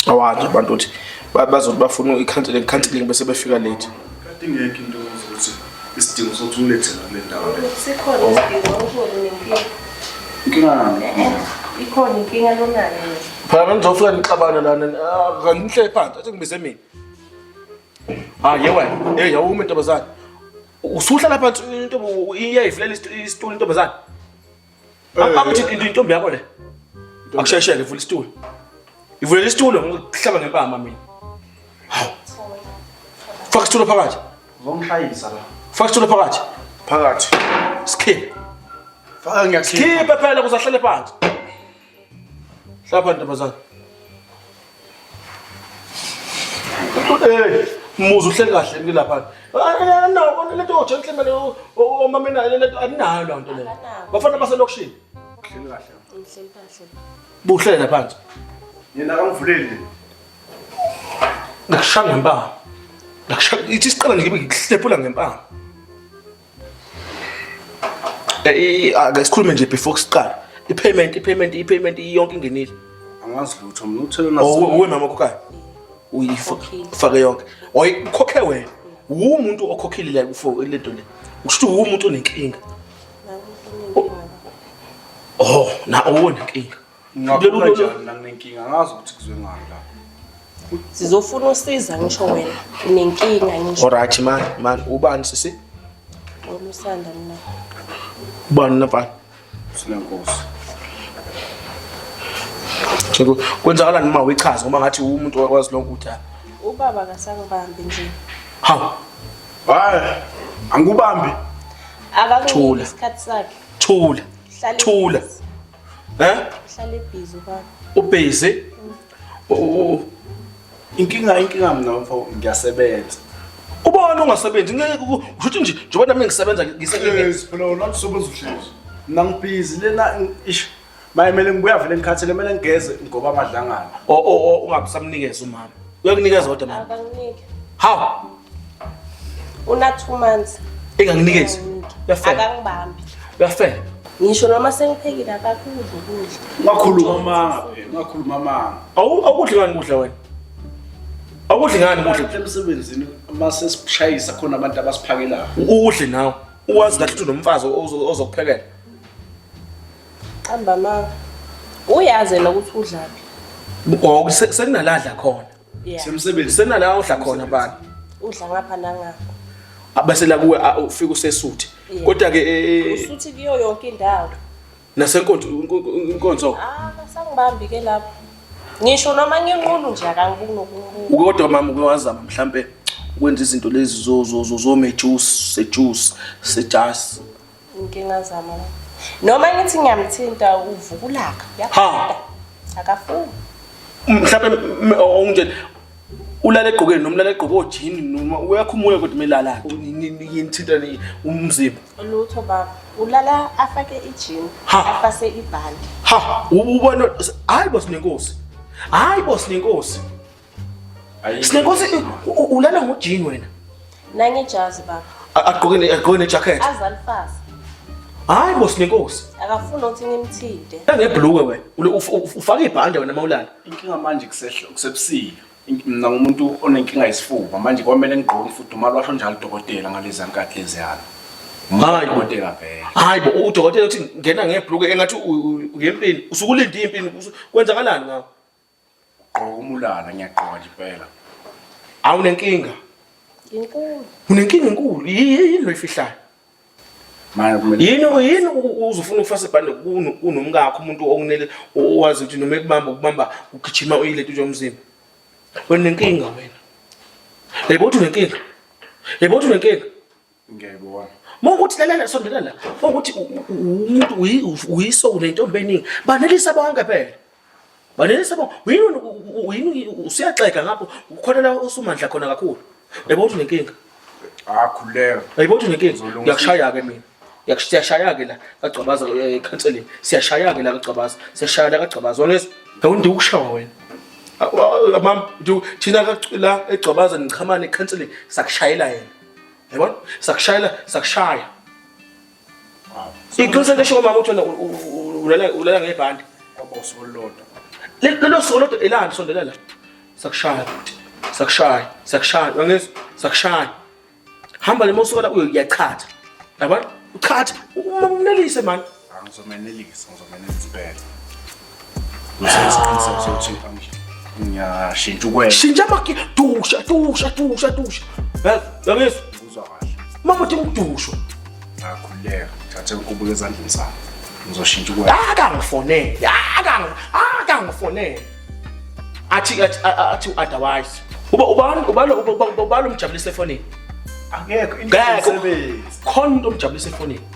awanje abantu ukuthi bazothi bafuna i-counseling counseling bese befika late kade ingekho into ukuthi isidingo sokuthi ulethe kule ndawo le sikhona oh. isidingo ukhona nenkinga inkinga nani eh, eh. ikhona inkinga lonayo phela bengizofika nixabana lana ah, kangihle phansi athi ngibize mina ah ye wena hey yawuma intombazane usuhlala phansi intombo iyayivulela isitulo intombazane Akuthi intombi yakho le. Akushayisheke ivula isitulo. Ivulela isitulo ngokuhlaba ngempama mina. Hawu. Faka isitulo phakathi. Uzongishayisa la. Faka isitulo phakathi. Phakathi. Skip. Faka ngiyakhipha. Skip phela kuzahlele phansi. Hlapha ntombazana. Eh, muzu uhleli kahle mke lapha. Anakho lento oje mhlambe omama nayo lento aninayo loo nto leyo. Bafana baselokishini. Uhleli kahle. Ngihleli kahle. Buhlele phansi. Yena akamvuleli. Ngikushaya ngempama. Ngikushaya ithi isiqala nje ngikuhlephula ngempama. Eh, eh, ake sikhulume nje before kusiqala. I-payment, i-payment, i-payment iyonke ingenile. Angazi lutho mina uthele na. Oh, uwe mama kokayo. Uyifake yonke. Oyikhokhe wena. Uwumuntu okhokhile la kufo le nto le. Usho ukuthi uwumuntu onenkinga. Oh, na owona inkinga. Ngingakubona Lolu- njani la nginenkinga angazi ukuthi kuzwe ngani la. Sizofuna usiza ngisho wena. Unenkinga ngisho Alright man, man ubani sisi? olusanda mina. Ubani nafana? Silenkosi. Cheku kwenzakalani uma uyichaza ngoba ngathi umuntu wakwazi lonke ukuthi ah, Ubaba kasangibambi nje. ha Hayi. Angikubambi. Thula. Akakunike isikhathi sakhe. thula. Hlala Thula. phansi. Eh? Uhlale busy baba. Ubusy? Oh. Inkinga inkinga mina mfo ngiyasebenza. Ubona ungasebenzi ngeke ushuthi nje njengoba nami ngisebenza ngisebenza. Yes, phela wona usebenza uhlezi. Mina ngibhizi lena ish mayimele ngibuya vele ngikhathele kumele ngigeze ngoba amadlangana. Oh oh ungabusamnikeza umama. Uyakunikeza kodwa mama. Akanginike. How? Una 2 months. Enganginikezi. Uyafela. Akangibambi. Uyafela. Ngisho noma sengiphekile akakudla ukudla. Ngakhuluma manga phela, ngakhuluma manga. Awu awukudli ngani kudla wena? Awukudli ngani kudla? Emsebenzini uma sesishayisa khona abantu abasiphakelayo. Udle nawe. Uwazi kahle ukuthi unomfazi ozokuphekela. Qamba manga. Uyazi nokuthi udlaphi. Ngoku sekunaladla khona. Yeah. Semsebenzi sena la udla khona bani? Udla ngapha nangapha. Abase la kuwe a- ufika usesuthi. Yeah. Kodwa ke eh, eh, Usuthi kuyo yonke indawo. nasenkonzo inkonzo Ah, basangibambi ke lapho. Ngisho noma nginqunu nje akangibuni nokunqunu. uke kodwa mama uke wazama mhlampe ukwenza izinto lezi zo zo zo zo mejuice, sejuice, sejasi. Inkinga zama la. Noma ngithi ngiyamthinta uvuka ulaka. Uyaqeda. Akafuni. Mhlawumbe m- m- ungitshele ulala egqokeni noma ulala egqoke ojini noma uyakhumula kodwa umelala yinithinta umzimba Lutho baba. Ulala afake ijini, Ha. afase ibhande. ha u- ubona hayi bosinenkosi hayi bosinenkosi Sinenkosi ulala ngojini wena. Nange jazi baba. Agqoke agqoke ne jacket. Azalifasa. Hayi bo sinenkosi. Akafuni ukuthi ngimthinte. Ngebhlukwe wena. Ufaka ibhande wena mawulala. Inkinga manje kusehlo kusebusika. Mina ngumuntu onenkinga yesifuba manje kwamele ngigqoke umfudumalo washo njalo udokotela ngalezi nkathi lezi yalo. Hayi udokotela vele. Hayi bo udokotela uthi ngena ngebhlukwe engathi uyempini usukulinde impini kwenzakalani ngawo. Gqoka umulala ngiyagqoka nje impela. Awunenkinga. Inkulu. Unenkinga enkulu. Yini lo ifihlayo? Manje kumele Yini yini u- u- uzofuna ukufasa ibhande kuno kunomkakho umuntu okunele owazi ukuthi noma ekubamba ukubamba ugijima uyilento nje umzimba. Wena unenkinga wena. Yebo uthi unenkinga. Yebo uthi unenkinga. ngiyayibona mawukuthi lalela sondela la mawukuthi umuntu uyiso unentombi eningi banelisa bonke phela banelisa bonke uyini usiyaxega ngapho khona la usumandla khona kakhulu yebo uthi unenkinga akhuleka ah, yebo uthi unenkinga ngiyakushaya-ke mina siyashaya-ke la kagcabaza eh, ekhanseleni siyashaya-ke la kagcabaza siyashaya la kagcabaza wangezwa awundi ukushawa wena ah, ah, mam thina la egcabaza niqhamane ekhanseleni sakushayela yena Yabona? Sakushayela, sakushaya. Iqiniso lesho ngomama uthi wena ulala ulala ngebhandi. Kwaboso olodwa. Lelo solo lodwa elani sondela la. Sakushaya. Sakushaya. Sakushaya. Wangizwa? Sakushaya. Hamba lemosuka la uyachatha. Yabona? Uchatha. Umnelise manje. Angizomenelisa, ngizomenelisa impela. Ngisenesiqiniseko sokuthi ngiyashintsha ukwela. Shintsha amaki dusha dusha dusha dusha. Yazi, yangizwa. Ngizwa kahle. Mama uthi ngidusho. Ngakhuleka, thathe inkubulo ezandleni zami. Ngizoshintsha ukwela. Akangifonele, akangi akangifonele. Athi athi athi otherwise. Uba ubani ubalo ubalo umjabulisa efonini. Angekho Ngeke. indaba Khona umuntu omjabulisa efonini.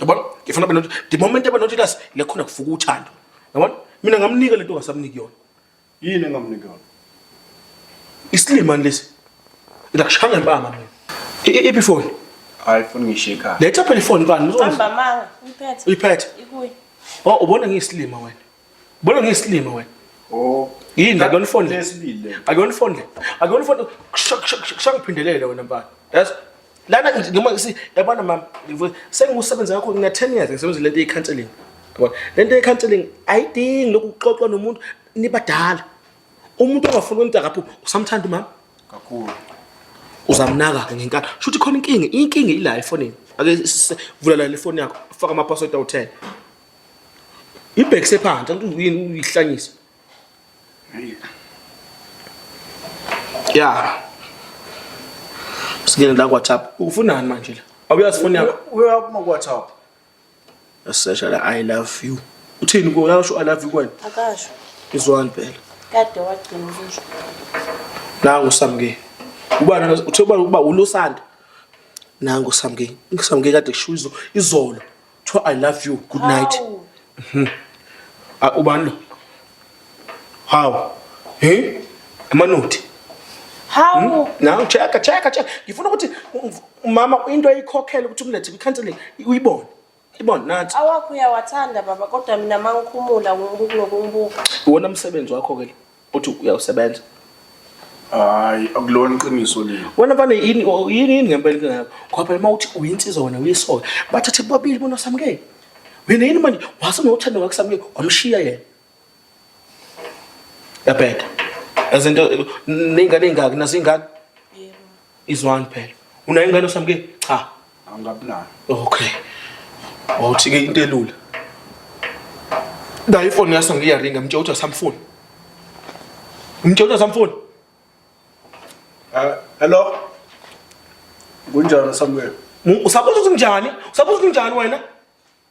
yabona ngifuna benothi the moment abenothi lasi lekhona kufuka uthando yabona mina ngamnika lento ngasamniki yona yini engamniki yona isilimani lesi ilakushanga impama mina iphi phone hayi funa ngishika letha phela ifoni kani uzomba manga uyiphethe uyiphethe ikuyi oh ubona ngiyisilima wena Bolo ngiyisilima wena. Oh. Yini la kuyona ifoni le? Akuyona ifoni le. Akuyona ifoni. Kusho ngiphindelele wena mfana. Yes. Lana noma si yabona mama sengiwusebenza kakhulu ngina 10 years ngisebenza lento yecounseling. Yabona? Lento yecounseling ayidingi lokuxoxwa nomuntu nibadala. Umuntu ongafuni umuntu akaphuphi usamthanda umama. Kakhulu. Uzamnaka ke ngenkani. Shuthi khona inkinga, inkinga ila efonini. Ake vula la ifoni yakho, faka ama password awu 10. ibhekise phansi angithi uyini uyihlanyisa ya singene la kwatap ufunani manje la awuyazi foni yakho uyaphuma kwatap yasesha la i love you uthini kuyo yasho i love you kwena akasho izwani phela kade wagcina ukusho nangu samke ubana uthe uba ulusanda nangu samke ngisamke kade kusho izolo Tho I love you. Good night. Mhm. Ah ubani lo? Hawu. Hey? Amanothi. Hawu. Hmm? Now check check check. Ngifuna ukuthi umama into ayikhokhela ukuthi umlethe kwicounseling uyibone. Ibona nathi. Awakho uyawathanda baba kodwa mina mangikhumula ngokunokumbuka. Wona umsebenzi wakho ke. uthi uyawusebenza hayi akulona iqiniso leli wena mfana yini o- yini yini ngempela inkinga yakho ngoba phela uma uthi uyinsizwa wena uyisoka bathathe bobabili bona usamukele wena yini manje wase nothando ngakusamukele wamshiya yena yabheda ezinto ney'ngane ey'ngaki nazo iy'ngane Izwani phela. Unayo ingane osami ke? Cha. Angabi nayo. Okay. Wawuthi ke into elula. Nayi ifoni yaso ngiyaringa mtshela ukuthi asamfuni. Mtshela ukuthi asamfuni. Ah, hello. Kunjani Samuel? Usabuza ukuthi kunjani? Usabuza ukuthi kunjani wena?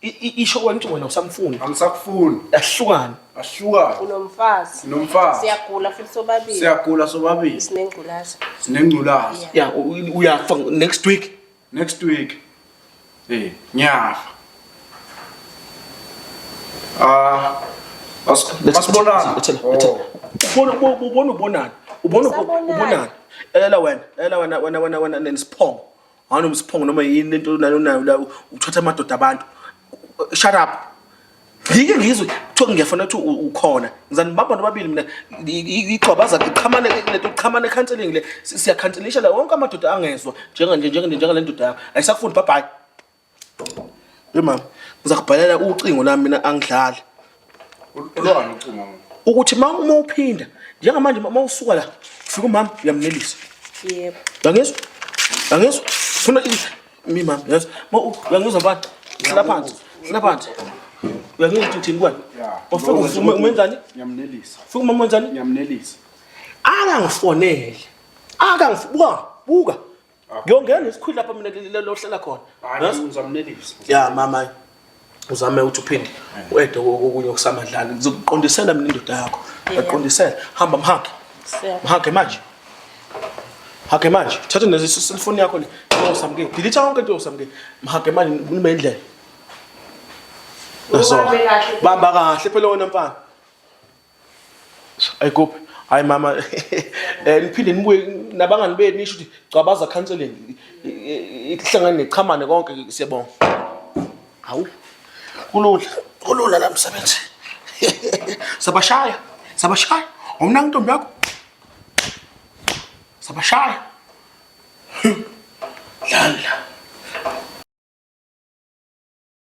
isho kwanithi wena usamfuni angisakufuni yahlukana ahlukana unomfazi nomfazi siyagula futhi sobabili siyagula sobabili sinengculaza sinengculaza ya uyafa next week next week eh ngiyafa ah asibonana oh. ubona ubona ubonani ubona ubonani ela wena ela wena wena wena wena nesiphongo wani umsiphongo noma yini lento nayo nayo la uthatha amadoda abantu shut up ngike ngizwe kuthiwa ngiyafuna ukuthi ukhona ngizani baba nobabili mina igxobaza iqhamane lento iqhamane counseling le siyakhanselisha la wonke amadoda angezwa njenganje njengale ndoda yakho ayisakufundi bye bye Hey mama, ngizakubhalela ucingo lami mina angidlali. Ulwani ucingo mina? Ukuthi mama uma uphinda njengamanje mama usuka la ufika umama uyamnelisa. Yebo. Yangizwa? Yangizwa? Funa mi mama yes. Ma uyangizwa mfana? Hlala phansi. Hlala phansi. Uyangizwa ukuthi uthini kwani? Ufika ufuma umenzani? Ngiyamnelisa. Ufika umama umenzani? Ngiyamnelisa. Akangifonele. Akangibuka. Buka. ngiyongena isikhwili lapha mina lohlala khona ngizamnelisa ya mama uzame ukuthi uphinde uede kokunye okusamadlala ngizokuqondisela mina indoda yakho ngaqondisela hamba mhage mhage manje hage manje thatha nezi cellphone yakho le usamke delete yonke into usamke mhage manje ngikhuluma indlela bamba kahle phela wena mfana Ay kuphi? Hayi mama eh niphinde nibuye nabangani benu nisho ukuthi gcabaza counseling ihlangane nechamane konke siyabonga. Hawu. Kulula. Kulula la msebenzi. Sabashaya. Sabashaya. Umna ntombi yakho. Sabashaya. Lala.